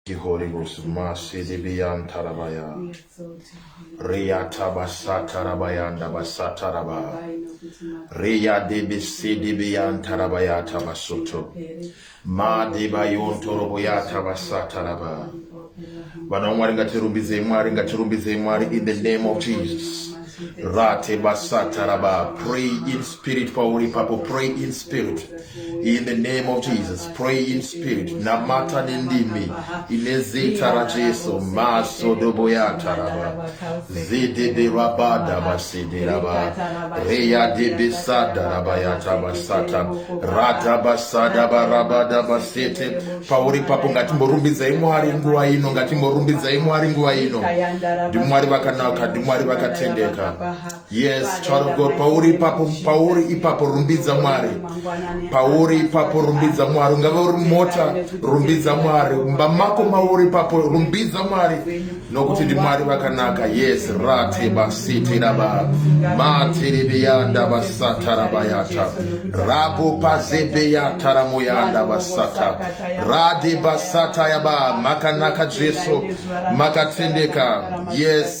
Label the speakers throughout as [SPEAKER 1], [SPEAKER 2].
[SPEAKER 1] the Holy Ghost. Masidibiyan tarabaya. Riyata basata rabayanda basata raba. Riya dibi sidibiyan tarabaya tabasoto. Ma dibayon toroboya tabasata raba. Vana Mwari ngatirumbidzei Mwari ngatirumbidzei Mwari in the name of Jesus. Rate basata raba. Pray in spirit pauri papo pray in spirit. In the name of Jesus, pray in spirit. Namata nendimi. Inezita la Jesu. Maso dobo ya taraba. Zidi de rabada basidi raba. Reya de besada raba ya tabasata. Rata basada barabada basete. Pauri papo ngatimborumbidza imwari nguwa ino. Ngatimborumbidza imwari nguwa ino. Ndimwari vakanaka. Ndimwari vakatendeka. Yes, child of God, pauri ipapo, pauri ipapo rumbidza Mwari. Pauri ipapo rumbidza Mwari. Ungave uri mota, rumbidza Mwari. Mumba mako mauri ipapo rumbidza Mwari. Nokuti ndi Mwari vakanaka. Yes, rate basiti raba. Mati ribiyanda basata rabayata. Rabo pazebe yata ramoyanda basata. Rade basata yaba. Makanaka Jesu. Makatendeka. Yes.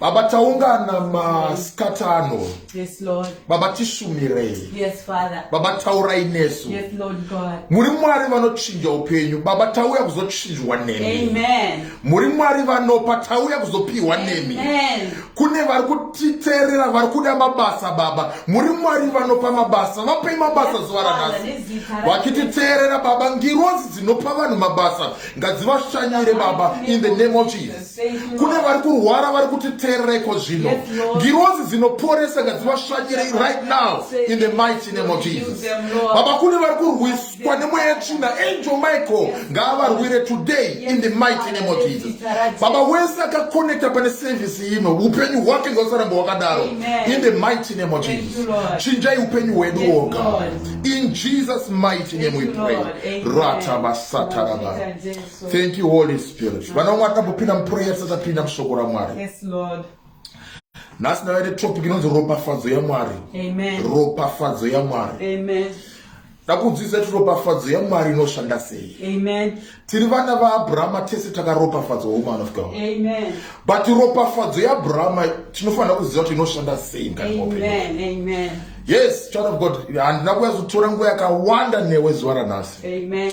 [SPEAKER 1] Baba taungana masikatano yes, Lord. Baba tisumirei yes, Father. Baba taurai nesu yes, Lord God. muri mwari vanochinja upenyu Baba tauya kuzochinjwa nemi Amen. muri mwari vanopa tauya kuzopiwa nemi Amen. kune vari kutiteerera vari kuda mabasa Baba muri mwari vanopa mabasa vapei mabasa yes, zuva ranhasi vakititeerera Baba ngirozi dzinopa vanhu mabasa ngadzivashanyire Baba in the name of Jesus kune vari kurwara vari kutiteerereko zvino ngirozi dzinoporesa ngadzivasvanyire right now in the mighty name of jesus baba kune vari kurwiswa nemweya yetsvina angel michael ngaavarwire today in the mighty name of jesus baba wese akakonekta pane sevhisi ino upenyu hwake ngausaramba hwakadaro in the mighty name of jesus chinjai upenyu hwedu woga in jesus mighty name we pray ratabasatarabar Thank you Holy Spirit. Vana vamwe atambopinda muprayer tisati tapinda mushoko raMwari. Yes Lord. Nhasi ndava ine topic inonzi ropafadzo yaMwari. Amen. Ropafadzo yaMwari. Amen. Ndakudzidzisa kuti ropafadzo yaMwari inoshanda sei. Amen. Tiri vana vaAbrahama tese takaropafadzwa woman of God. Amen. But ropafadzo yaAbrahama tinofanira kuziva kuti inoshanda sei mukati mwopenyu. Amen. Amen. Yes, child of God, handina kuyazotora nguva yakawanda newe zuva ranhasi. Amen.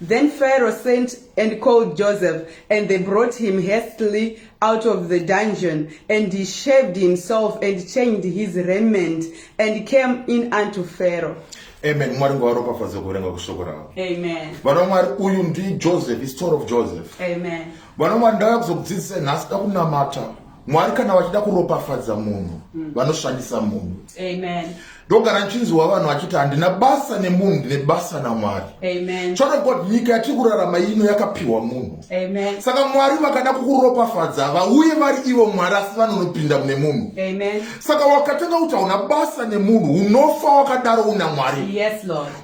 [SPEAKER 1] Then Pharaoh sent and called Joseph, and they brought him hastily out of the dungeon. And he shaved himself and changed his raiment and came in unto Pharaoh. Amen. Mwari ngawaropafadze kuverenga kushoko ravo. Amen. Vana Mwari uyu ndi Joseph, is story of Joseph. Amen. Vana Mwari ndakakuzokudzidzisa nhasi dakunamata. mwari kana vachida kuropafadza munhu mm. vanoshandisa munhu ndogara nchinziwa vanhu vachiti handina basa nemunhu ndine basa namwari chona god nyika yatiri kurarama ino yakapiwa munhu saka mwari vakada kukuropafadza vauye vari ivo mwari asi vanonopinda mune munhu saka wakatanga kuti hauna basa nemunhu unofa wakadaro una mwari yes,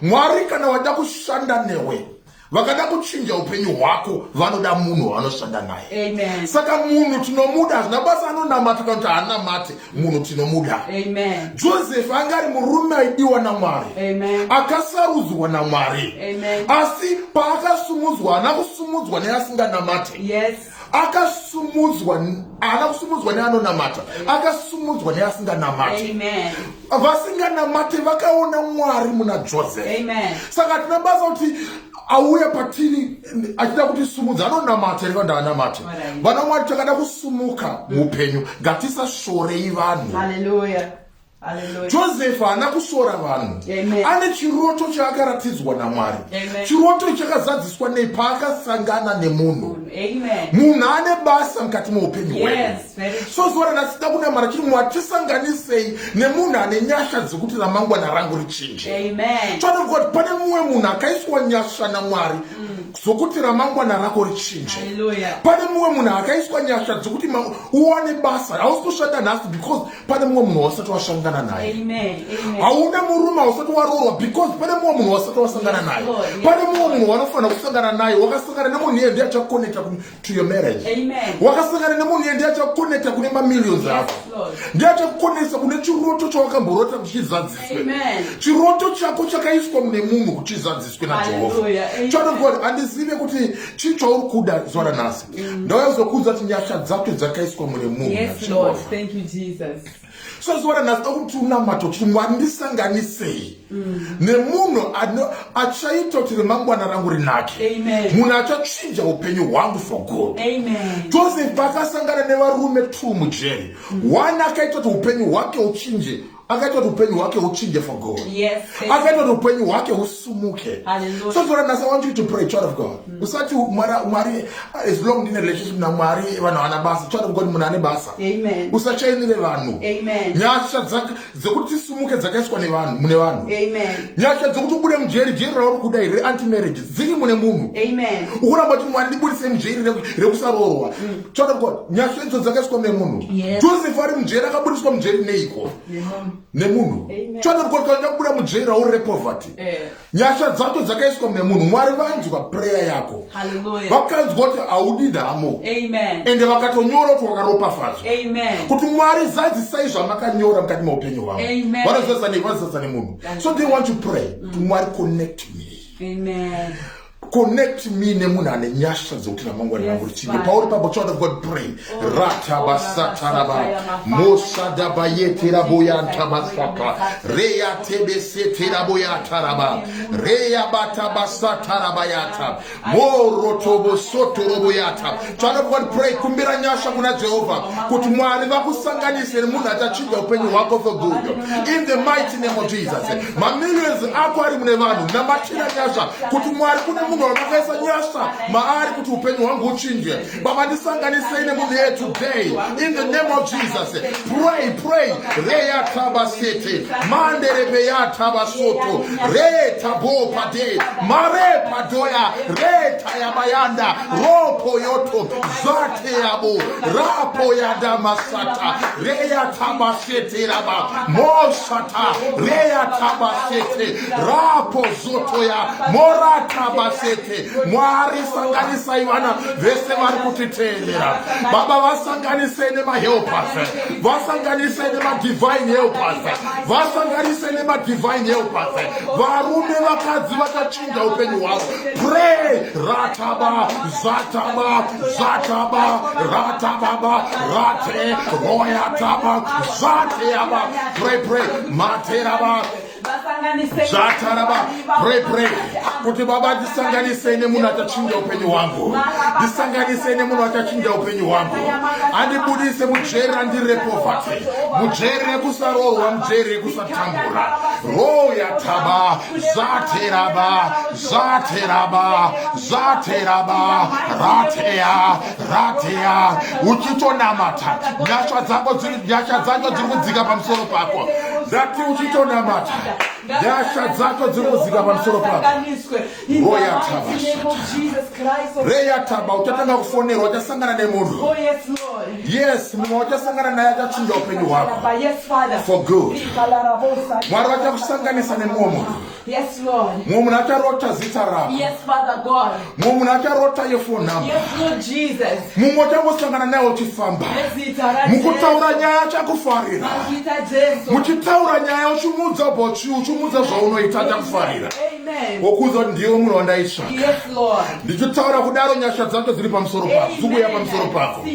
[SPEAKER 1] mwari kana wada kushanda newe vakada kuchinja upenyu hwako vanoda munhu wavanoshanda naye saka munhu tinomuda hazvina basa anonamata kana kuti haanamate munhu tinomuda josefu anga ari murume aidiwa namwari akasarudzwa namwari asi paakasumudzwa haana kusumudzwa neasinganamate yes. akasumudzwa haana kusumudzwa neanonamata akasumudzwa neasinganamati vasinganamati vakaona mwari muna joseph saka tina basa kuti auya patiri achida kuti sumudza anonamata iri kanda anamate vana mwari takada kusumuka muupenyu ngatisashorei vanhu josefa haana kusora vanhu ane chiroto chaakaratidzwa namwari chiroto ichi chakazadziswa nei paakasangana nemunhu munhu ane basa mukati meupenyu hwedu so zuva ranasida kunamara chiri mwari tisanganisei nemunhu ane nyasha dzekuti ramangwana rangu richinje choanovuka kuti pane mumwe munhu akaiswa nyasha namwari mm dzokuti ramangwana rako richinje pane mumwe munhu akaiswa nyasha dzokuti uwane basa hausi kushanda nhasi because pane mumwe munhu wasati wasangana naye hauna murume ausati waroorwa because pane mumwe munhu wasati wasangana naye pane mumwe munhu wanofanira kusangana naye wakasangana nemunhu iye ndiye achakonekta to your marriage wakasangana nemunhu iye ndiye achakonekta kune mamillions ako ndiye achakukonekta kune chiroto chawakamborota kuti chizadziswe chiroto chako chakaiswa mune munhu kuti chizadziswe najehovha chianokuti handizive kuti chii chauri kuda zuva ranhasi Mm. ndakazokudza kuti nyasha dzake dzakaiswa mune munhuso zuva ranhasi akuti unamata kuti mwari ndisanganisei mm. nemunhu achaita kuti remangwana rangu rinake munhu achachinja upenyu hwangu for good joseph akasangana nevarume two mujeri mm. one akaita kuti upenyu hwake uchinje akaita kuti upenyu hwake huchinje for god yes, akaita kuti upenyu hwake husumuke so for nhasi want you to pray child of god mm. usati mwari as long ndine relationship namwari vanhu havana basa child of god munhu ane basa usachainire vanhu nyasha dzekuti tisumuke dzakaiswa nevanhu mune vanhu nyasha dzekuti ubude mujeri jeri rauri kuda here anti marriage dziri mune munhu ukuramba kuti mwari ndibudise mujeri rekusaroorwa mm. Child of God, nyasha idzo dzakaiswa nemunhu. Yes. Joseph ari mujeri akabudiswa mujeri neiko? Nemunhu. Child of God, kana ndakubuda mujeri rauri poverty. Eh. Nyasha dzacho dzakaiswa nemunhu. Mwari vanzwa prayer yako. Hallelujah. Vakanzwa kuti haudi nhamo. Amen. Ende vakatonyora kuti wakaropafadzwa. Amen. Kuti Mwari zadzisai zvamakanyora mukati meupenyu hwavo. Amen. Vanozadzisa nemunhu. So they want to pray. Mm. Mwari connect me. Amen. connect me nemunhu ane nyasha dzokuti ramangwana rangu richinge pauri pabo child of god pray oh, ratabasataraba oh, mosadabayeterabooyantabasaka reyatebeseteraboyataraba reyabatabasatarabayata morotobosotoroboyata Child of God, pray. Kumbira nyasha kuna Jehovah. Kuti mwari vakusanganise nemunhu achachinja upenyu hwako for good. In the mighty name of Jesus. Mamillions ako ari mune vanhu. Namatira nyasha. Kuti mwari kune munhu wamakaisa nyasha maari kuti upenyu hwangu uchinje. Baba ndisanganisei nemunhu yeye today. In the name of Jesus. Pray, pray. Reya taba sete. Mande rebeya taba soto. Re tabo pade. Mare padoya. Re yabayanda ropo yoto zvake yabo rapo yadamasata reyatabasete raba mosata reyatabasete rapo zoto ya moratabasete mwari sanganisai vana vese vari kutiteerera baba vasanganise nemahelpers vasanganise nemadivine helpers vasanganise nemadivine helpers varume vakadzi vakachi kuda upenyu hwavo pray rataba zataba zataba ratababa rate royataba zateaba pray pray materaba zvataraba pray pray kuti baba ndisanganisei nemunhu achachinja upenyu hwangu ndisanganisei nemunhu achachinja upenyu hwangu andibudise mujeri randiri repovati mujeri rekusaroorwa mujeri rekusatambura royataba Zateraba, Zateraba, Zateraba, Ratea, Ratea, uchitonamata nyasha dzako dziri nyasha dzacho dziri kudzika pamusoro pako ndati uchitonamata nyasha dzacho dziri kudzika pamusoro pako royatabasata reyataba uchatanga kufonerwa uchasangana nemunhu oh, yes mumwe wachasangana naye achachinja upenyu hwako for good mwari vachakusanganisa nemumwe munhu mumwe munhu acharota zita rako mumwe munhu acharota yefonhamba mumwe uchangosangana naye uchifamba mukutaura nyaya achakufarira muchitaura nyaya uchimuudza bochi uchimuudza zvaunoita achakufarira wokuudza kuti ndiwe munhu wandaitsvaka ndichitaura kudaro nyasha dzacho dziri pamusoro pako dzikuuya pamusoro pako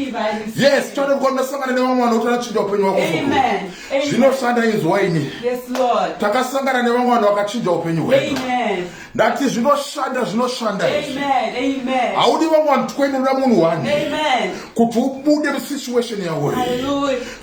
[SPEAKER 1] yes choda kuti ndasangana nevamwe vanoti anachinja upenyu wako zvinoshanda inzwa ini takasangana nevamwe vanhu vakachinja upenyu hwedu ndati zvinoshanda zvinoshanda haudi vamwe vanhu 20 unoda munhu one kuti ubude musituation yawoyo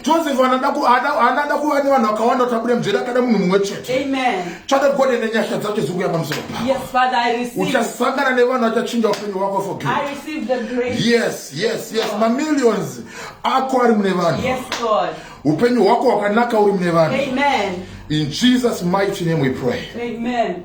[SPEAKER 1] Joseph anada ku anada kuva ne vanhu vakawanda kuti abude mujeri akada munhu mumwe chete. Amen. Chada God ene nyasha dzake zungu ya pamusoro. Yes, Father, I receive. Uchasangana ne vanhu vachachinja upenyu wako for good. I receive the grace. Yes, yes, yes. Ma millions ako ari mune vanhu. Yes, God. Upenyu hwako wakanaka uri mune vanhu. Amen. In Jesus mighty name we pray. Amen.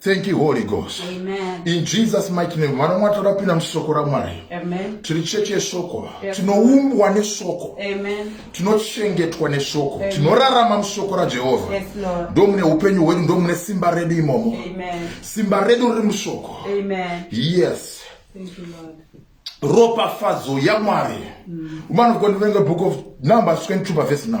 [SPEAKER 1] Thank you, Holy Ghost. Amen. In Jesus' mighty name, mwana mwati rapinda musoko raMwari. Amen. Tiri chechi yesoko. Tinoumbwa nesoko. Amen. Tinochengetwa nesoko. Tinorarama musoko raJehovha. Yes, Lord. Ndomune upenyu hwedu, ndomune simba redu imomo. Amen. Simba redu riri musoko. Amen. Yes. Thank you, Lord. Ropafadzo yaMwari. Mm. Woman of God, reading the book of Numbers 22 verse 9.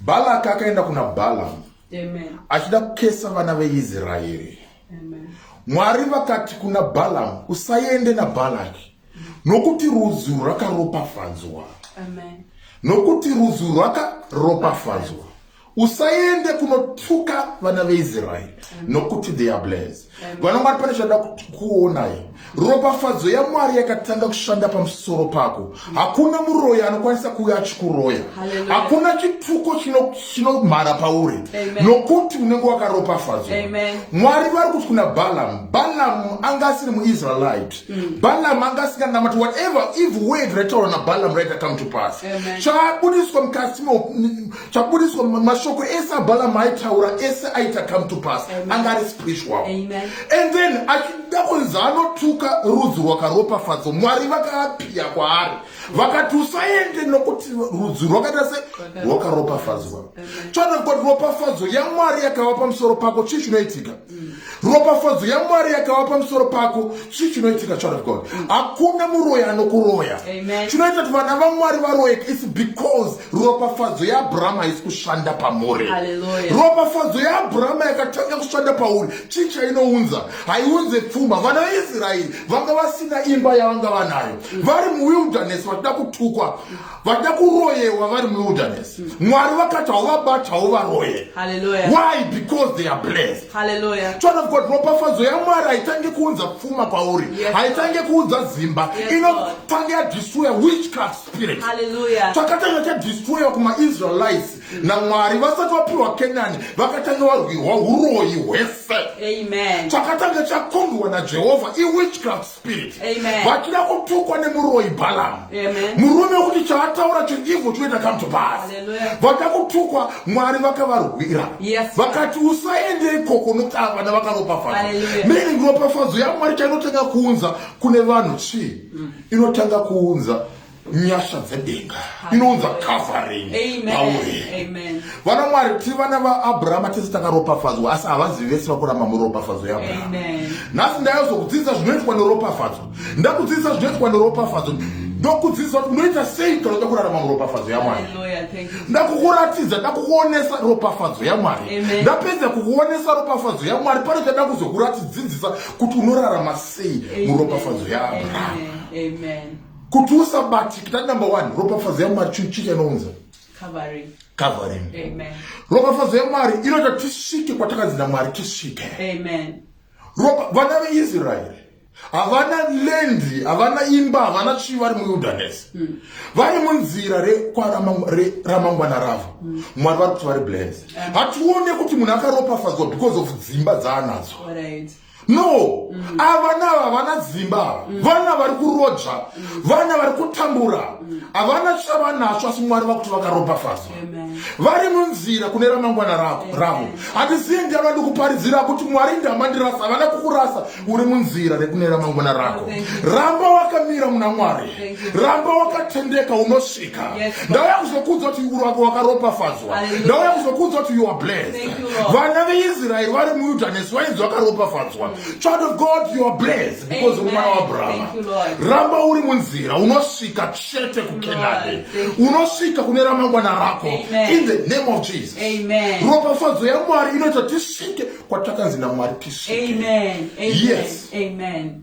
[SPEAKER 1] Balaki akaenda kuna Balamu achida kukesa vana veIsraeri. Mwari vakati kuna Balamu, usaende naBalaki nokuti rudzi rwakaropafadzwa, nokuti rudzi rwakaropafadzwa. Usaende kunotuka vana veIsraeri nokuti they are blessed. vana mwari pane chada kuonai ropafadzo yamwari yakatanga kushanda pamusoro pako hakuna muroyi anokwanisa kuve achikuroya hakuna chituko chinomhara pauri nokuti unenge wakaropafadzwa mwari vari kuti kuna balamu balamu anga asiri muisraelite mm. balamu anga asinganamati whatever evil word raitaura nabalamu raita come to pass chaabudiswa mukati chaburitswa mashoko ese abalamu aitaura ese aita come to pass anga ari speech wavo and then achida kunzi anotuka rudzi rwakaropafadzwa mwari vakaapiya kwaari vakati usaende nokuti rudzi rwakaita se rwakaropafadzwa choda kuti ropafadzo yamwari yakava pamusoro pako chii chinoitika ropafadzo yamwari yakava pamusoro pako chii chinoitika child of god hakuna muroyi anokuroya chinoita kuti vana vamwari varoyeke is because ropafadzo yaabrahama haisi kushanda pamuri ropafadzo yaabrahama yakatanga kushanda pauri chii chainounza haiunze pfuma vana veisraeri vanga vasina imba yavanga vanayo vari muwilderness vachida kutukwa vada kuroyewa vari muwilderness mm. mwari vakati hauvabatawo varoye why because they are blessed chona vkoti ropafadzo yamwari haitange kuunza pfuma kwauri haitange kuunza zimba inotange yadestroya witchcraft spirit chakatanga chadestroya kumaisraelites mm. namwari vasati vapiwa kenani vakatanga varwirwa uroyi hwese chakatanga chakombiwa najehovha iwitchcraft spirit vatira kutukwa nemuroyi balamu murume wekuti chaataura chiriivho chinoita come to pass vata kutukwa mwari vakavarwira vakati usaende ikoko nokuti ava vana vakaropafadzwa meaning ropafadzo yamwari chainotanga kuunza kune vanhu chii mm. inotanga kuunza nyasha dzedenga inounza covering pauri vana mwari ti vana vaabrahama tese takaropafadzwa asi havazivi vese vakuramba muropafadzo yeabrahama nhasi ndayozokudzidzisa zvinoitwa neropafadzo ndakudzidzisa zvinoitwa neropafadzo ndokudzidzisa kuti unoita sei kana uda kurarama muropafadzo yamwari ndakukuratidza ndakukuonesa ropafadzo yamwari ndapedza kukuonesa ropafadzo yamwari pane chada kuzokuratidzidzisa kuti unorarama sei muropafadzo yaabrahama kuti usabatikita number one ropafadzo yamwari chinhu chii chanounza covering covering ropafadzo yamwari inoita tisvike kwatakanzi namwari tisvike amen ropa vana veisraeri havana lendi havana imba havana chii vari muildernes hmm. vari munzira rekwaramangwana ravo hmm. mwari vari kuti vari blans hatione kuti munhu akaropafadzwa because of dzimba dzaanadzo no mm. avana ava vana dzimba ava mm. vana vari kuroja mm. vana vari kutambura havana mm. chavanasvo asi mwari vakuti vakaropafadzwa vari munzira kune ramangwana rako ravo hatisiye ndava ndikuparidzira kuti mwari ndamandirasa havana kukurasa uri munzira rekune ramangwana rako oh, ramba wakamira muna mwari ramba wakatendeka unosvika ndauya kuzokuudza kuti urwako wakaropafadzwa ndauya kuzokuudza kuti you are blessed vana veisraeri vari muwilderness vainzi vakaropafadzwa child of god you are blessed because uri mwana waabrahama ramba uri munzira unosvika chete kukenani unosvika kune ramangwana rako in the name of jesus ropafadzo yamwari inoita tisvike kwatakanzi namwari tisvike yes Amen.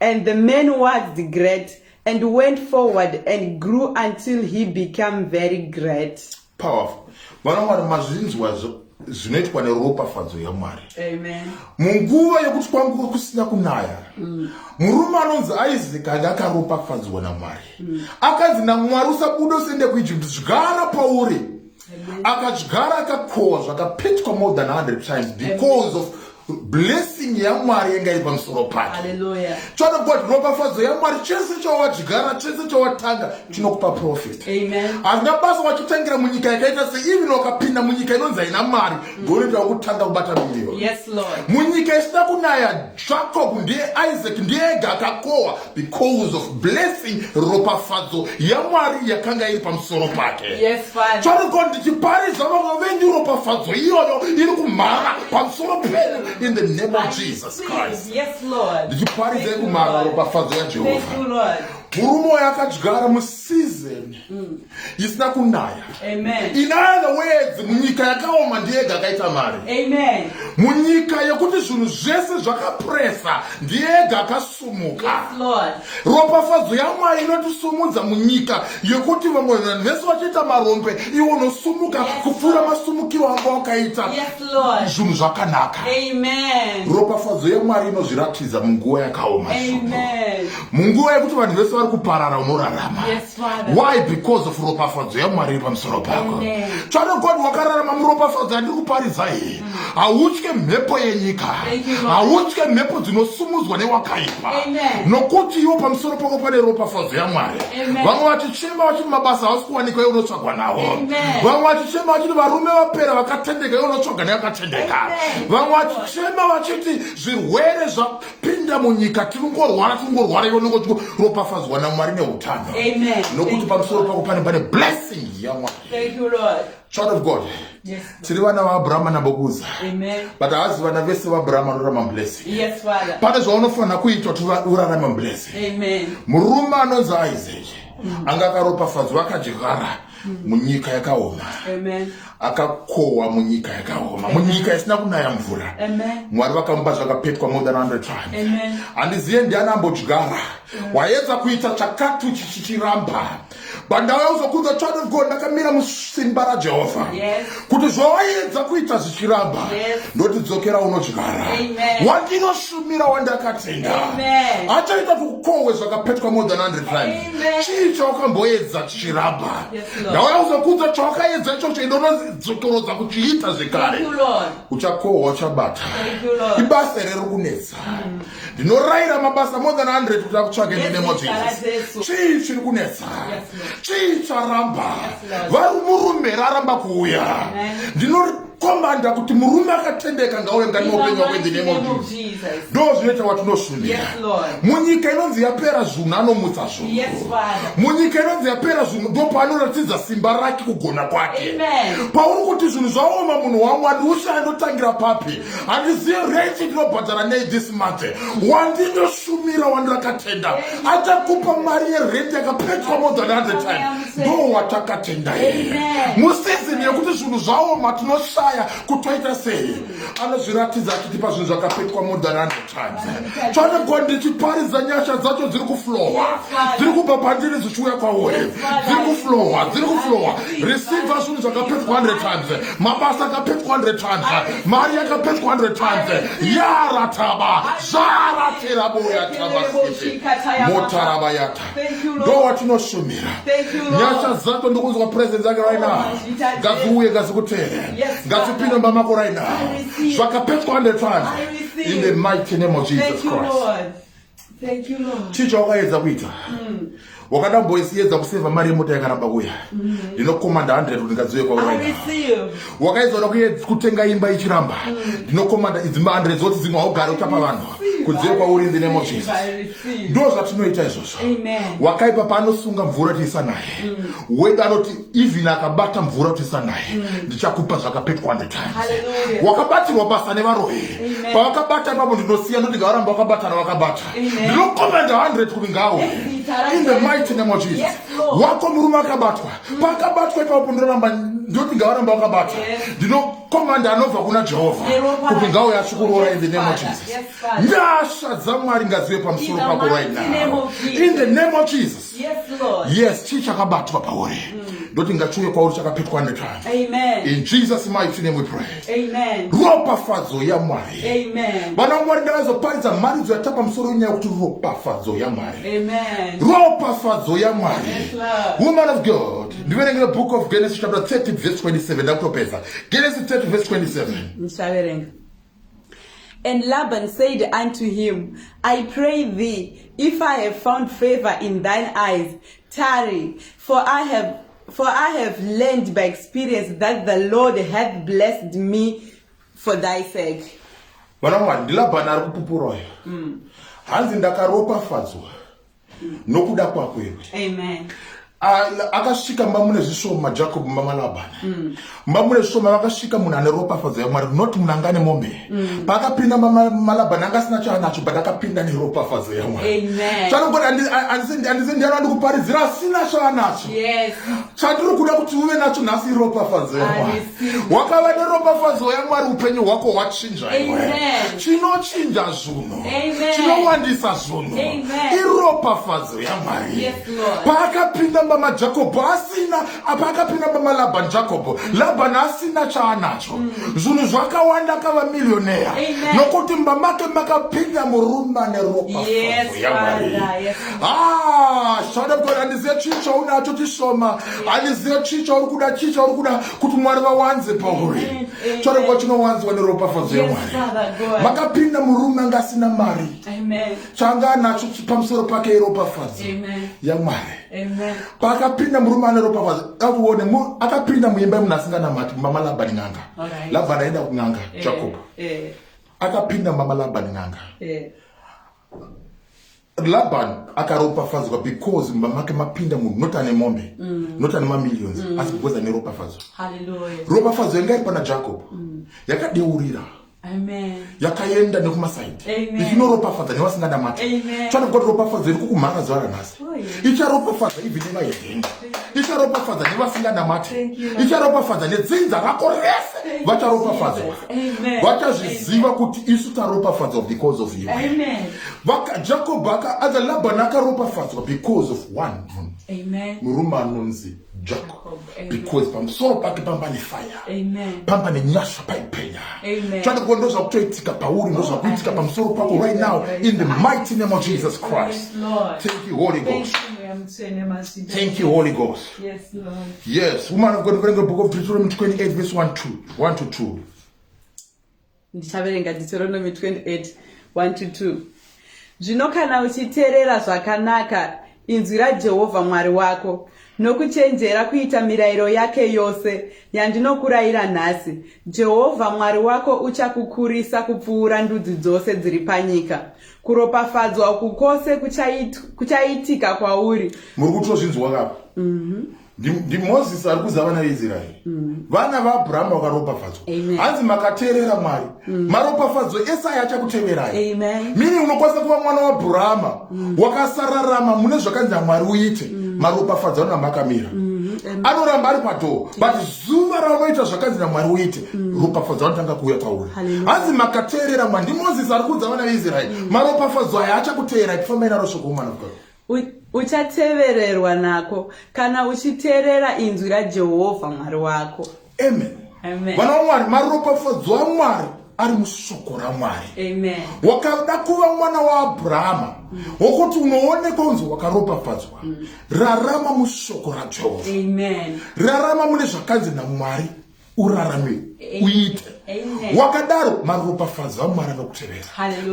[SPEAKER 1] And the man was the great and went forward and grew until he became very great. Powerful. Vana Mwari mazvinzwa zvinoitwa neropafadzo yamwari munguva yokuti kwanga kusina kunaya mm. murume anonzi isaac anga akaropafadzwa namwari mm. akanzi namwari usabuda usende kuijipti zvigara pauri akadyara akakohwa zvakapetwa more than 100 times because of blessing yamwari yanga iri pamusoro pake tsvada god ropafadzo yamwari chese chawadyara chese chawatanga chinokupa profit hazvina basa wachitangira munyika yakaita se even wakapinda munyika inonzi haina mari ndoonoita mm. wakutanga kubata mirioni munyika isina kunaya jacob ndiye isaac ndiye ega akakohwa because of blessing ropafadzo yamwari yakanga iri pamusoro pake yes, choriko ndichiparisa vamwe venyu ropafadzo iyoyo iri kumhara pamusoro penyu in the name of jesus christ ndichiparisa ikumhara ropafadzo yajehovha murume uyo akadyara musizeni mm. isina kunaya in other words munyika yakaoma ndiyega akaita mari munyika yekuti zvinhu zvese zvakapresa ndiyega akasumuka ropafadzo yamwari inotisumudza munyika yekuti vamwe vanhu vese vachiita marombe iwo unosumuka kupfuura masumukiro anga wakaita zvinhu zvakanaka ropafadzo yamwari inozviratidza munguva yakaoma munguva yekuti vanhu vese vari kuparara unorarama why because of ropafadzo yamwari iri pamusoro pako tsvada god wakararama muropafadzo yandiri kuparidza iyi mm. hautye mhepo yenyika hautye mhepo dzinosumudzwa newakaipa nokuti iwo pamusoro pako pane ropafadzo yamwari vamwe vachichema vachiti mabasa hausi kuwanikwa iwe unotsvagwa nawo vamwe vachichema vachiti varume vapera vakatendeka iwe unotsvaga neyakatendeka vamwe vachichema vachiti zvirwere pinda munyika tirikungorwara tirikungorwara ivo nongo tiropafadzwa namwari neutano nokuti pamusoro pako pane pane blessing yamwari child of god tiri vana vaabrahama nabokuza but haazi vana vese vaabrahama anorarama mublessing pane zvaunofanira kuitwa kuti urarame mublessing murume anonzi isaac mm. anga akaropafadzwa akadyara mm. munyika yakaoma akakohwa munyika yakaoma munyika isina kunaya mvura mwari vakamupa zvakapetwa more than 100 times handizive ndiani ambodyara waedza kuita chakati uchichichiramba bandauya uzokudza child of god ndakamira musimba rajehovha kuti zvawaedza kuita zvichiramba ndotidzokera unodyara wandinoshumira wandakatenda achaita kuti ukohwe zvakapetwa more than 100 times chii chawakamboedza chichiramba ndaona kuzokudza chawakaedza ichocho ende unozotorodza kuchiita zvekare uchakohwa uchabata ibasa here rikunetsa mm. ndinorayira mabasa more than 100 kuti akutsvage ndinemo jesus chii chiri kunetsa chii charamba vari murume raramba kuuya ndino komanda kuti murume akatendeka ngauye mukati meupenyu wako in the name of jesus ndo zvinoita watinosundira munyika inonzi yapera zvunhu anomutsa zvunhu munyika inonzi yapera zvunhu ndo paanoratidza simba rake kugona kwake pauri kuti zvinhu zvaoma munhu wangu andiusha andotangira papi handizive renti ndinobhadhara nei this month wandinoshumira wandirakatenda achakupa mari yerenti yakapetwa more than 100 times ndo watakatenda here musizini yekuti zvinhu zvaoma tinoshaya kutoita sei anozviratidza achiti pazvinhu zvakapetwa modananotadze chanegwa ndichiparidza nyasha dzacho dziri kuflowa dziri kubva pandiri dzichiuya kwauri dziri kuflowa dziri kuflowa receiva zvinhu zvakapetwa 100 times mabasa akapetwa 100 times mari yakapetwa 100 times yarataba zvaratira boya taba motaraba yata ndo watinoshumira nyasha dzako ndikunzwa presence yake right now oh, ngadziuye ngadzikutere ngadzipinde mumba mako right now zvakapetwa hundred times in the mighty name of jesus christ chii chawakaedza kuita hmm. wakada mboisiedza kuseva mari yemota yakaramba kuya mm-hmm. ndinokomanda 100 kuti ngadziuye kwauraina wakaedzana kutenga imba ichiramba ndinokomanda idzi mbandre dzoti dzimwe haugare uchapa vanhu kudziwe kwauri in the name of jesus ndo zvatinoita izvozvo wakaipa paanosunga mvura tiisa naye mm. wedu anoti even akabata mvura tiisa naye mm. ndichakupa zvakapetwa the time wakabatirwa basa nevaroyi pavakabata ipapo ndinosiya ndoti ngavaramba vakabatana vakabata ndinokomanda 100 kuti ngawe in the mighty name of jesus wako murume akabatwa pakabatwa ipapo ndinoramba ndoti ngavaramba vakabatwa ndinokomanda anobva kuna jehovha kuti ngauye asikuroora in the name of jesus nyasha dzamwari ngazive pamusoro pako right now in the name of jesus yes chii chakabatwa pauri mm. ndoti ngachiuye kwauri chakapetwa nepano in jesus mighty name we pray ropafadzo yamwari vana mwari ndavazoparidza mharidzo yata pamusoro wenyaya kuti ropafadzo yamwari ropafadzo yamwari woman of god ndiverengere book of genesis chapter 30 verse 27 ndakutopedza genesis 30 verse 27 And Laban said unto him, I pray thee, if I have found favor in thine eyes, tarry, for I have For I have learned by experience that the Lord hath blessed me for thy sake. Vana mwari ndilabhana ari kupupura uyo mm. hanzi ndakaropafadzwa mm. nokuda kwako iwe akasvika mba mune zvishoma jacob mama labhana mm. mba mune svoma vakasvika munhu ane ropafadzo yamwari not munhu anga ane mombe mm. paakapinda malabhani anga asina chaanacho but akapinda neropafadzo yamwari chanogona andise ndiyano andikuparidzira asina chaanacho chatiri kuda kuti uve nacho nhasi iropafadzo yamwari wakava neropafadzo yamwari upenyu hwako hwachinja chinochinja zvuno chinowandisa zvuno iropafadzo yamwari paakapinda mba majakobho asina apa akapinda baba labani jakobho labani asina chaanacho mm. zvinhu zvakawanda akava milioneya nokuti mba make makapinda murume ane ropayaari ah, shada god andizive chii chaunacho chishoma andizive chii chauri kuda chii chauri kuda kuti mwari vawanze pauri shada god chinowanzwa neropafadzo yamwari makapinda murume anga asina mari chaanga anacho pamusoro pake iropafadzo yamwari paakapinda murume ane ropa kwazi akuone akapinda muimba yemunhu asinganamati mama labani n'anga labani aenda kun'anga eh, jacob eh. akapinda mama labani n'anga eh. laban akaropafadzwa because mumba make mapinda munhu not ane mombe mm. not ane mamillions mm. asi because ane ropafadzo ropafadzo yanga iri pana jacob mm. yakadeurira yakaenda nekumasaidi ichinoropafadza nevasingada mata tsvana kuti ropafadzo iri kukumhara zuva ranhasi oh, icharopafadza ivi nevaevengi icharopafadza nevasingada mata icharopafadza nedzinza rako rese vacharopafadzwa vachazviziva kuti isu taropafadzwa because of you jacob aka aza labani akaropafadzwa because of one murume anonzi Jacob because pamusoro pake pamba nefaya pamba nenyasha paipenya tsvada kuva ndo zvakutoitika pauri ndo zvakuitika pamusoro pako right now in the mighty name of jesus christ thank you holy ghost Thank you, Holy Ghost. Yes, Lord. Yes, woman of God, bring the book of Deuteronomy 28, verse 1 2. 1 to 2. ndichaverenga deuteronomy 28 1 to 2 zvino kana uchiteerera zvakanaka inzwi rajehovha mwari wako nokuchenjera kuita mirayiro yake yose yandinokurayira nhasi jehovha mwari wako uchakukurisa kupfuura ndudzi dzose dziri panyika kuropafadzwa uku kwose kuchaitika kwauri muri kutozvinzwa kapa mhm. ndimozisi ari kuza vana veisraeri mm. vana vaabrahama vakaropafadzwa hanzi makateerera mwari mm. maropafadzo ese aya achakuteverai mini unokwanisa kuva mwana waabrahama mm. wakasararama mune zvakanzi namwari uite maropafadzo anona makamira mm-hmm. anoramba ari padhoo but zuva raunoita zvakanzi namwari uite ropafadzo anotanga kuuya kwauri hanzi makateerera mwari ndimozisi ari kuza vana veisraeri maropafadzo aya achakuteerai tifambai naro shoko omwana vukao uchatevererwa nako kana uchiteerera inzwi rajehovha mwari wako amen vana vamwari maropafadzo amwari ari musoko ramwari wakada kuva mwana waabhurahama mm. wokuti unoonekwa unzi wakaropafadzwa mm. rarama musoko rajehovha rarama mune zvakanzi namwari urarame uite wakadaro maropafadzo avo maranga kutevera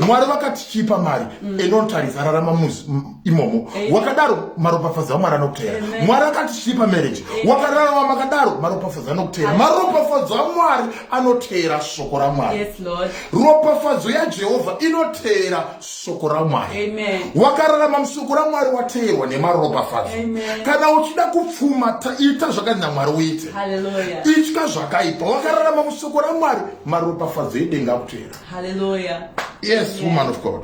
[SPEAKER 1] mwari vakati chipa mari mm. enotaridza rarama muzi imomo wakadaro maropafadzo avo maranga kutevera mwari akati chipa marriage wakararama makadaro maropafadzo anokutevera maropafadzo amwari anoteera shoko ramwari ropafadzo yajehovha inoteera shoko ramwari wakararama mushoko ramwari wateerwa nemaropafadzo kana uchida kupfuma ita zvakanzi namwari uite itya zvakaipa wakararama mushoko ramwari maropafadzo edenga akuteera yes woman of god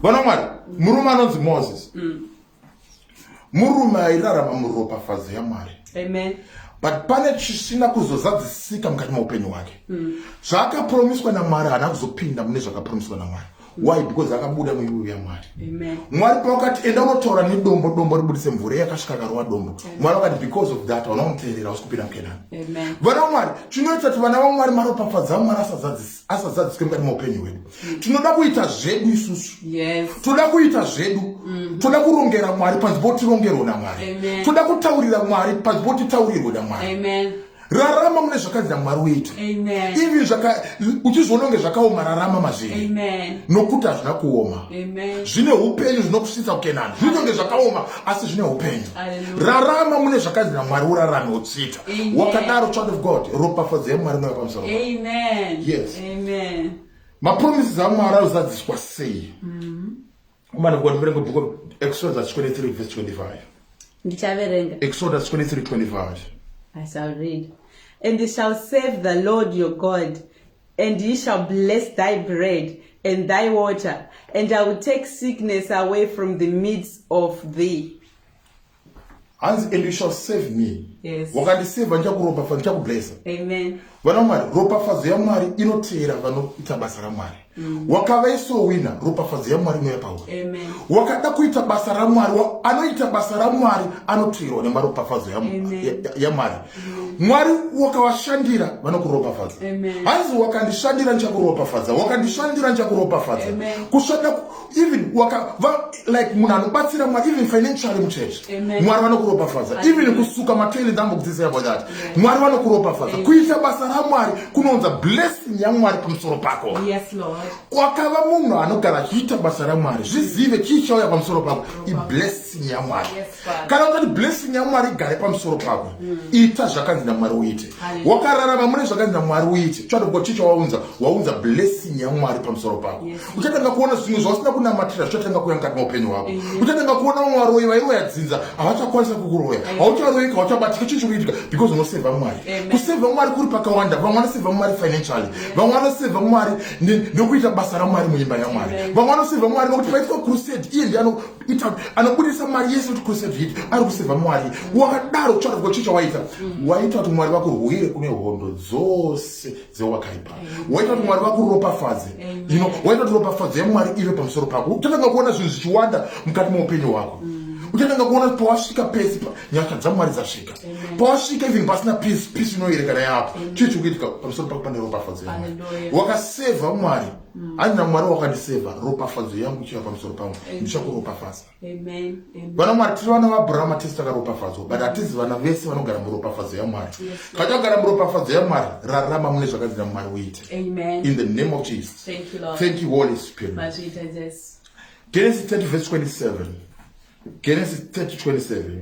[SPEAKER 1] vana mwari murume anonzi moses mm. murume airarama muropafadzo yamwari amen but pane chisina kuzozadzisika mukati meupenyu hwake mm. zvaakapromiswa namwari haana kuzopinda mune zvakapromiswa namwari mm. why because akabuda muivuvi yamwari mwari pavakati enda unotaura nedombo dombo ribudise mvura yakasvika karova dombo mwari vakati because of that vana unoteerera usi kupinda mukenani vana vamwari chinoita kuti vana vamwari maropafadza vamwari asazadzisika asazadziswe mukati meupenyu hwedu tinoda kuita zvedu isusu toda kuita zvedu mm-hmm. toda kurongera mwari panzi potirongerwo namwari toda kutaurira mwari panzi potitaurirwo namwari rarama mune zvakanzi namwari uite even uchizviona kunge zvakaoma rarama mazviri nokuti hazvina kuoma zvine upenyu zvinokusvitsa kukenani zvinoita kunge zvakaoma asi zvine upenyu rarama mune zvakanzi namwari urarame utsvite wakadaro child of god ropafadzo yamwari inova pamusoro yes mapromises amwari anozadziswa sei mm-hmm. umana kuva ndiverenga book of exodus chapter 23 verse 25 ndichaverenga exodus 23 25 i shall read and he shall save the lord your god and he shall bless thy bread and thy water and i will take sickness away from the midst of thee hanzi and you shall save me yes. wakandiseva ndichakuropafadza ndichakublesa vana mwari ropafadzo yamwari inoteera vanoita basa ramwari mm. wakavaisowina ropafadzo yamwari inoya pauri wakada kuita basa ramwari anoita basa ramwari anoteerwa nemaropafadzo yamwari mm. mwari wakavashandira vanokuropafadza hanzi wakandishandira ndichakuropafadza wakandishandira ndichakuropafadza kushanda even waka va, like munhu anobatsira mwari even financially mucheche mwari vanokuropafadza even kusuka matoile dambo kudzisa yabo that mwari vanokuropafadza kuita basa ramwari kunounza blessing yamwari pamusoro pako kwakava munhu anogara achiita basa ramwari zvizive chii chauya pamusoro pako iblessing yamwari yes, kana kuti blessing yamwari igare pamusoro pako mm. ita zvakanzi namwari uite wakararama mune zvakanzi namwari uite chatogo chicho waunza waunza blessing yamwari pamusoro pako uchatanga kuona zvinhu zvausina kunamatira zvichatanga kuya mukati meupenyu hwako uchatanga kuona vamwe varoyi vairoya dzinza havachakwanisa kukuroya haucharoyika hauchabatika chii chikuitika because unoseva mwari kuseva mwari kuri pakawanda vamwe vanoseva mwari financially vamwe vanoseva mwari nekuita basa ramwari muimba yamwari vamwe vanoseva mwari nokuti paitwa crusade iye ndiano ita anobudisa mari yese kuti kusave hit ari kuseva mwari wakadaro kutsvaka kwa chicha waita waita kuti mwari vakurwire kune hondo dzose dzewakaipa waita kuti mwari vakuropafadze ino waita kuti ropafadzo yamwari ive pamusoro pako uchatanga kuona zvinhu zvichiwanda mukati meupenyu hwako uchatanga kuona kuti pawasvika pese nyasha dzamwari dzasvika pawasvika even pasina peace peace inoyerekana yaapo chii chikuitika pamusoro pako pane ropafadzo yamwari wakaseva mwari Mm. hanzi namwari wakandiseva ropafadzo yangu ichiva pamusoro pangu ndichakuropafadza vana mwari tiri vana vaabrahama tese takaropafadzwa but hatizi vana vese vanogara muropafadzo yamwari kana tagara muropafadzo yamwari rarama mune zvakanzi namwari uite in the name of jesus thank you holy spirit genesis 30 verse 27 genesis 30 27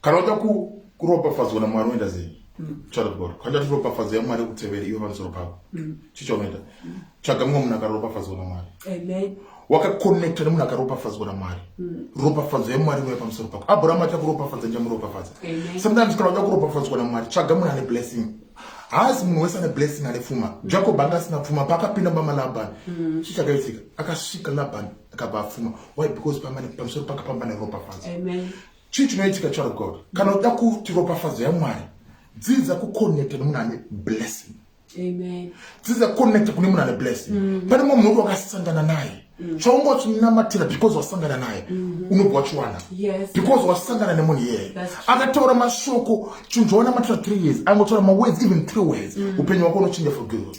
[SPEAKER 1] kana uda kuropafadzwa namwari unoita sei mm. child of god kana tati ropafadzo yamwari yokuteveri iwe pamusoro pako mm. chii chaunoita mm. tsvaga mumwe munhu akaropafadzwa namwari wakakonekta nemunhu akaropafadzwa namwari ropafadzo yamwari iwe pamusoro pako abraham aita kuropafadza ndichamuropafadza sometimes kana uda kuropafadzwa namwari tsvaga munhu ane blessing haasi munhu wese ane blessing ane pfuma jacob anga asina pfuma paakapinda mama labani mm. chii chakaitika akasvika labani akabva apfuma why because pamusoro pakapambane ropafadzo chii chinoitika child of god kana uda kuti ropafadzo yamwari dzidza kuconnecta nemunhu ane blessing dzidza kuconnecta kune munhu ane blessing mm. pane mumwe munhu wakasangana naye mm. chaunga wachinamatira because wasangana naye mm-hmm. unobva wachiwana because wasangana nemunhu iyeye akataura mashoko chinhu chawanamatira three years angotaura mawords even three words mm. upenyu wako unochinja for good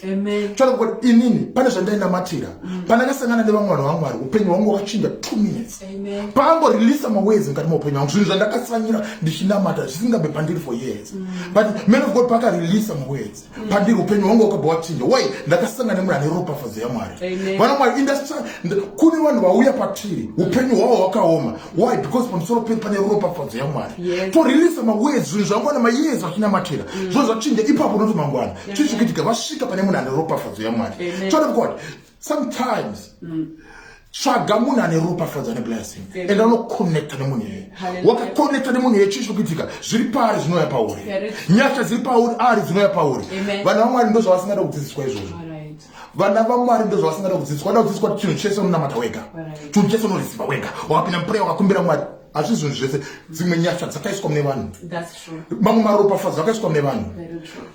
[SPEAKER 1] chaakuti inini pane zvandainamatira pandakasangana nevamwe vanhu vamwari upenyu hwangu wakachinja two minutes paangoreleasa mawezi mukati maupenyu wangu zvinhu zvandakatsanyira ndichinamata zvisingabe pandiri for years mm. but man of god paakareleasa mawezi mm. pandiri upenyu hwangu wakabva wachinja why ndakasangana nemunhu ane ropafadzo yamwari vana mwari industry kune vanhu vauya patiri upenyu hwavo hwakaoma why because pamusoro pedu pane ropafadzo yamwari toreleasa mawezi zvinhu zvangu ana mayezi vachinamatira mm. zvo zvachinja ipapo unoto mangwana chichikitika vasvika pane munhu ane ropafadzo yamwari child of god sometimes mm. tsvaga munhu ane ropafadzo ane blessing and anoconnecta nemunhu iyeye wakaconnecta nemunhu iyeye chii chikuitika zviri paari zvinouya pauri nyasha dziri pauri ari dzinouya pauri vana vamwari ndo zvavasingada kudzidziswa izvozvo vana vamwari ndo zvavasingada kudzidziswa vada kudzidziswa kuti chinhu chese unonamata wega chinhu chese unorisiva wega wakapinda mupureya wakakumbira mwari hazvizvinhu zvese dzimwe nyasha dzakaiswa mune vanhu mamwe maropafadzo akaiswa nevanhu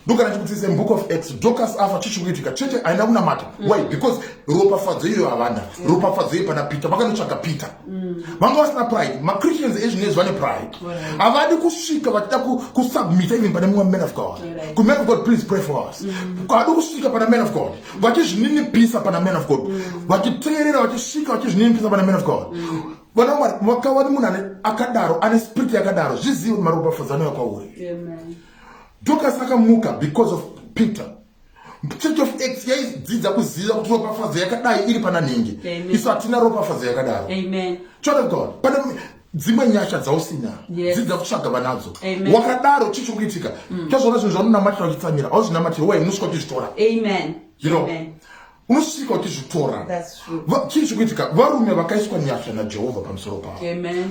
[SPEAKER 1] ndokana chikutsise book of x docas afa chichikuitika cheche haina kunamata mm. why because ropafadzo iyoyo havana mm. ropafadzo iyo pana peter vakanotsvaga peter mm. vanga vasina pride machristians ezvinezvi vane pride havadi kusvika vachida kusubmita even pane mumwe man of god kuman of god please pray for us havadi kusvika pana man of god vachizvininipisa pana man of god vachiteerera vachisvika vachizvininipisa pana man of god vana mwari makawani munhu ane akadaro ane spirit yakadaro zvizivi kuti maropafadzano yakwauri dokas akamuka because of peter church of x yaidzidza kuziva kuti ropafadzo yakadai iri pana nhingi isu hatina ropafadzo yakadaro child of god pane dzimwe nyasha dzausina dzidza kutsvaga vanadzo wakadaro chii chikuitika mm. tazvaona zvinhu zvaunonamatira uchitsamira auzvinamatiri waimuswa tizvitora you know unosvika uchizvitora chii chikuitika varume vakaiswa nyasha najehovha pamusoro pavo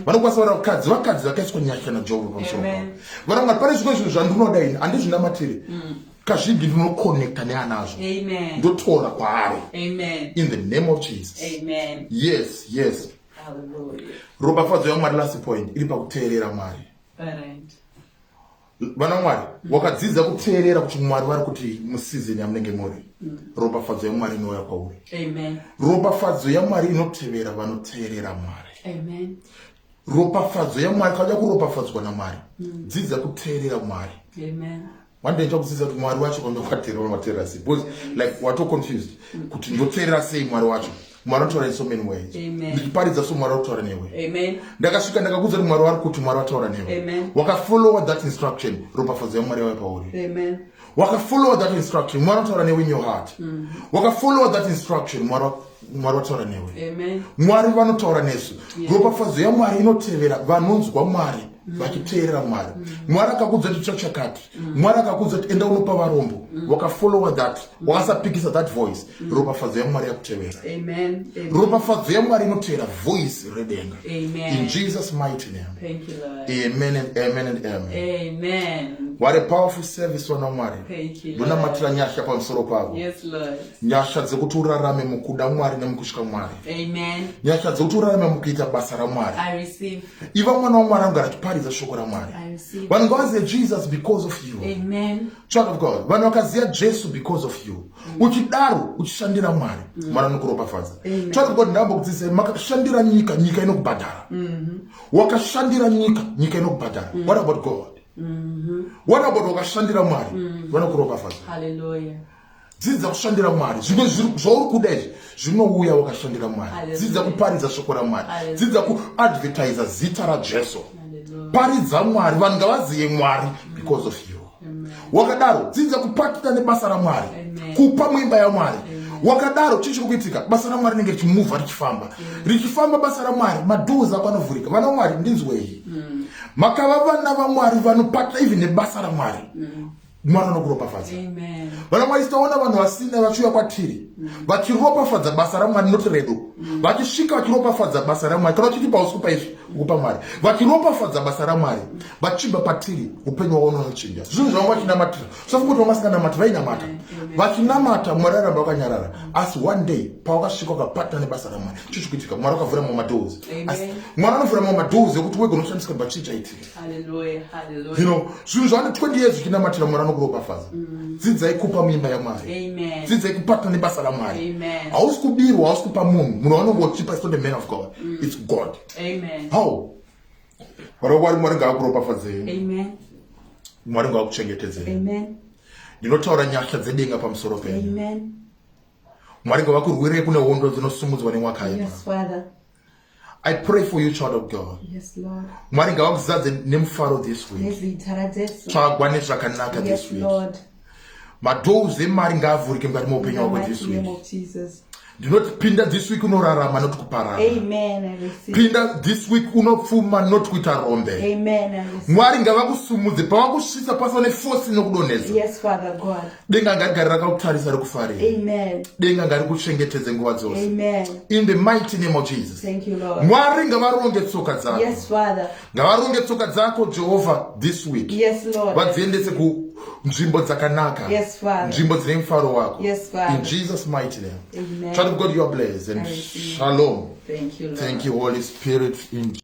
[SPEAKER 1] vanokwanisa vara vakadzi vakadzi vakaiswa nyasha najehovha pamusoro pavo vara mwari pane zvimwe zvinhu zvandinoda ini handizvinamatiri mm. kazhinji ndinokonekta neanazvo ndotora kwaari in the name of jesus Amen. yes yes ropafadzo yamwari last point iri pakuteerera mwari Parent. vana mwari wakadzidza kuteerera kuti mwari vari kuti musizini yamunenge muri mm. ropafadzo yamwari inouya kwauri ropafadzo yamwari inotevera vanoteerera mwari ropafadzo yamwari kauda kuropafadzwa namwari mm. dzidza kuteerera mwari wandaita kudzidza kuti mwari wacho kwanda kwateerera wateerera sei because like watoconfused mm. kuti ndoteerera sei mwari wacho mwari anotaura in so many ways ndichiparidza so mwari akutaura newe ndakasvika ndakakuudza kuti mwari wari kuti mwari vataura newe wakafollowa that instruction ropafadzo yamwari yauya pauri wakafollowa that instruction mwari vataura newe in your heart mm. wakafollowa that instruction mwari vataura newe mwari vanotaura nesu ropafadzo yamwari inotevera vanonzwa mwari mm. vachiteerera mwari mm. mwari akakudza kuti tsva chakati mwari akakudza kuti enda unopa varombo wakafollowa that mm. wakasapikisa that voice mm. ropafadzo yamwari yakutevera ropafadzo yamwari inotevera voice redenga in jesus mighty name amen and amen and amen what a powerful service wana mwari ndonamatira nyasha pamusoro pavo nyasha dzekuti urarame mukuda mwari nemukutya mwari nyasha dzekuti urarame mukuita basa ramwari iva mwana wamwari anogara achiparidza shoko ramwari vanhu ngavazive jesus because of you amen. Child of God, vanhu vakaziva Jesu because of you. Mm. Uchidaro uchishandira Mwari, mm. Mwari anokuropafadza. Child of God, ndamba kudzidzisa makashandira nyika, nyika inokubhadhara. Mm-hmm. Wakashandira nyika, nyika inokubhadhara. Mm. What about God? Mm-hmm. What about wakashandira Mwari? Mm. Vanokuropafadza. Hallelujah. dzidza kushandira mwari zvimwe zvauri kuda izvi zvinouya wakashandira mwari dzidza kuparidza shoko ramwari dzidza kuadvertiza zita rajesu paridza mwari vanhu ngavazive mwari because of you wakadaro dzidza kupatita nebasa ramwari kupa muimba yamwari wakadaro chii chiri kuitika basa ramwari rinenge richimuvha richifamba richifamba basa ramwari madoors ako anovhurika vana vamwari ndinzwei hmm. makava vana vamwari vanopatita even nebasa ramwari hmm. mwari vanokuropafadza vana mwari titaona vanhu vasina vachiuya kwatiri mm. vachiropafadza basa ramwari noti redu mm. vachisvika vachiropafadza basa ramwari kana vachitipa usiku paizvi ukupa mwari vachiropafadza basa ramwari mm. vachibva patiri upenyu wavo unonochinja zvinhu zvavanga vachinamatira sofunga kuti vanga vasinganamatira vainamata vachinamata mwari aramba vakanyarara asi one day pavakasvika vakapatana nebasa ramwari chichikuitika mwari vakavhura mamwe madoors asi mwari anovhura mamwe madoors ekuti wega unoshandiswa bachii chaitika Hallelujah, hallelujah. You know, zvinhu zvane 20 years zvichinamatira mwari anokuropafadza mm. dzidzai kupa muimba yamwari dzidzai kupatana nebasa ramwari hausi kubirwa hausi kupa munhu munhu wanonge uchipa is not the man of god mm. its god Amen. how varokwari mwari ngaakuropafadzei mwari ngaakuchengetedzei ndinotaura nyasha dzedenga pamusoro penyu mwari ngavakurwirei kune hondo dzinosumudzwa nemwaka yes, I pray for you child of God. Yes Lord. Mwari ngavakuzadze nemufaro this week. Yes Lord. Tsvagwa nezvakanaka this week. Yes Lord. Madoors emari ngaavhurike mukati meupenyu wako this week. ndinoti pinda this week unorarama not kuparara pinda this week unopfuma not kuita rombe mwari ngavakusumudze pavakusvisa pasava nefosi inokudonhedza denga ngagare rakakutarisa rikufarira denga ngarikuchengetedze nguva dzose in the mighty name of jesus mwari ngavaronge tsoka dzako ngavaronge tsoka dzako jehovha this week vadziendese ku nzvimbo dzakanaka nzvimbo dzine mufaro wako in jesus mighty name child of god you are blessed and shalom thank you holy spirit in